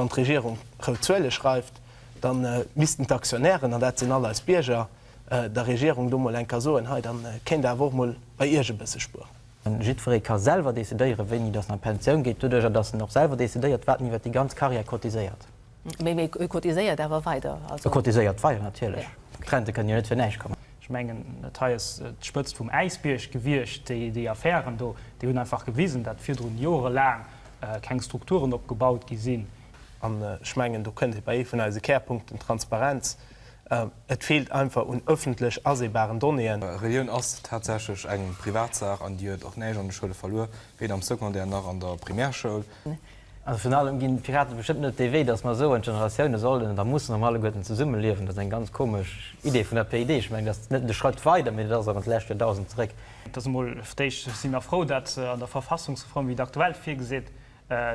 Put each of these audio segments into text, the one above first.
Wann d'Regierung rout Zuele schreift, da missten d'Aktionären, an dat sinn all eis Bierger, der Regierung do mol eng Kéier soen, hei, da kéint Der awer och mol bei Iech e bësse spueren. Jiddweree ka selwer decidéieren, wéini dass en a Pensioun geet, doduerjer dass en och selwer decidéiert, wat en iwwert déi ganz Karriär cotiséiert. Mee e cotiséiert awer weider. E cotiséiert weider, natierlech. D'Rente kënnen jo net fir näischt kommen. Ech mengen, dat hei ass d'Spëtzt vum Äisbierg gewiescht, déi Affären do. Déi hunn einfach gewisen, datt virdrun joerelaang keng Strukturen opgebaut gi sinn. An ech mengen, do kënnt ee bei ee vun eise Kärpunkten, Transparenz. Et feelt einfach un ëffentlech aseebaren Donnéeën. Relioun ass tatsächlech eng Privatsaach an déi huet och näischt an de Schoule verluer, weder am Secondaire nach an der Primärschoul. Also virun allem ginn d'Piraten bestëmmt net dee Wee, datt mer soen, d'Generatioune sollen oder mussen erëm alleguerten zesumme liewen. Dat ass eng ganz komesch Idee vun der PID. Ech mengen, dat ass net nëmmen e Schratt weider, mee dat ass och an d'lescht Joerdausend zeréck. Et ass emol fir d'éischt, si mer frou, datt an der Verfassungsreform, wéi se aktuell virgeseet,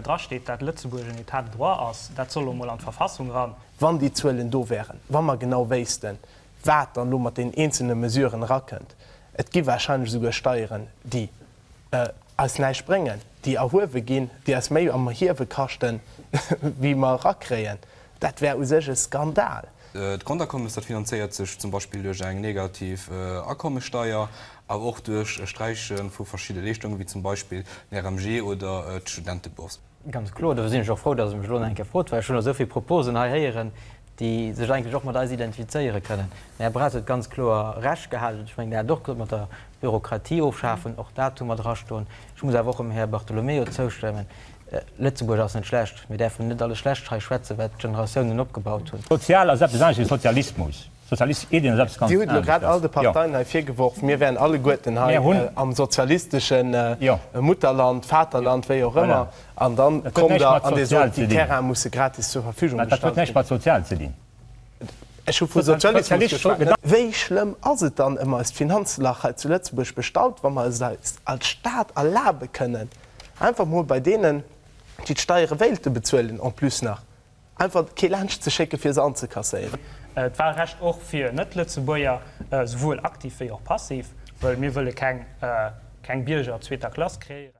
drasteet, datt Lëtzebuerg en Etat de droit ass. Dat soll elo emol an d'Verfassung eran. Wann déi Zuelen do wären, wa mer genau wéissten, wat dann elo mat deenen eenzelne Mesuren erakënnt, et gi warscheinlech esouguer Steieren, déi eis näischt bréngen, déi erhuewe ginn, déi eis méi am Erhiewe kaschten, wéi mer erakréien. Dat wär u sech e Skandal. D'Grondakommes, dat finanzéiert sech zum Beispill duerch eng negativ Akommessteier, awer och duerch e Sträiche vu verschidde Leeschtunge wéi zum Beispill den RMG oder d'Studentebourse. Ganz kloer, dofir sinn ech och frou, datt Der mech elo nach eng Kéier frot, well ech hunn elo esou vill Proposen hei héieren, déi sech eigentlech och mat eis identifizéiere kënnen. Den Här Braz huet ganz kloer Recht gehalen, an ech mengen, Der hat et och gesot mat der Bürokratie ofschafen, och dat hu mer drastoen. Ech muss awer och dem Här Bartolomeo zoustëmmen, Lëtzebuerg ass net schlecht. Mir däerfen net alles schlecht hei schwätzen, wat d'Generatiounen opgebaut hunn. Sozial ass eppes anescht wéi Sozialismus. Dir hutt elo grad all de Parteien hei virgeworf, mir wären alleguerten hei am sozialistesche Mutterland, Vaterland, wéi och ëmmer, an da kommt Der an Dir sot, déi Terraine musse gratis zur Verfügung gestallt ginn. Dat huet näischt mat sozial ze dinn. Ech hu vu Sozialismus geschwat. Wéi schlëmm ass et dann ëm eist Finanzlach hei zu Lëtzebuerg bestallt, wa mer es eis als Stat erlabe kënnen, einfach emol bei deenen, déi d'Steiere wéilte bezuelen, en plus nach Einfach kee laanscht ze schécken, fir se anzekasséieren. D'Wahlrecht och fir Net-Lëtzebuerger, souwuel aktiv wéi och passiv, well mir wëlle keng Bierger zweeter Klass kreéieren.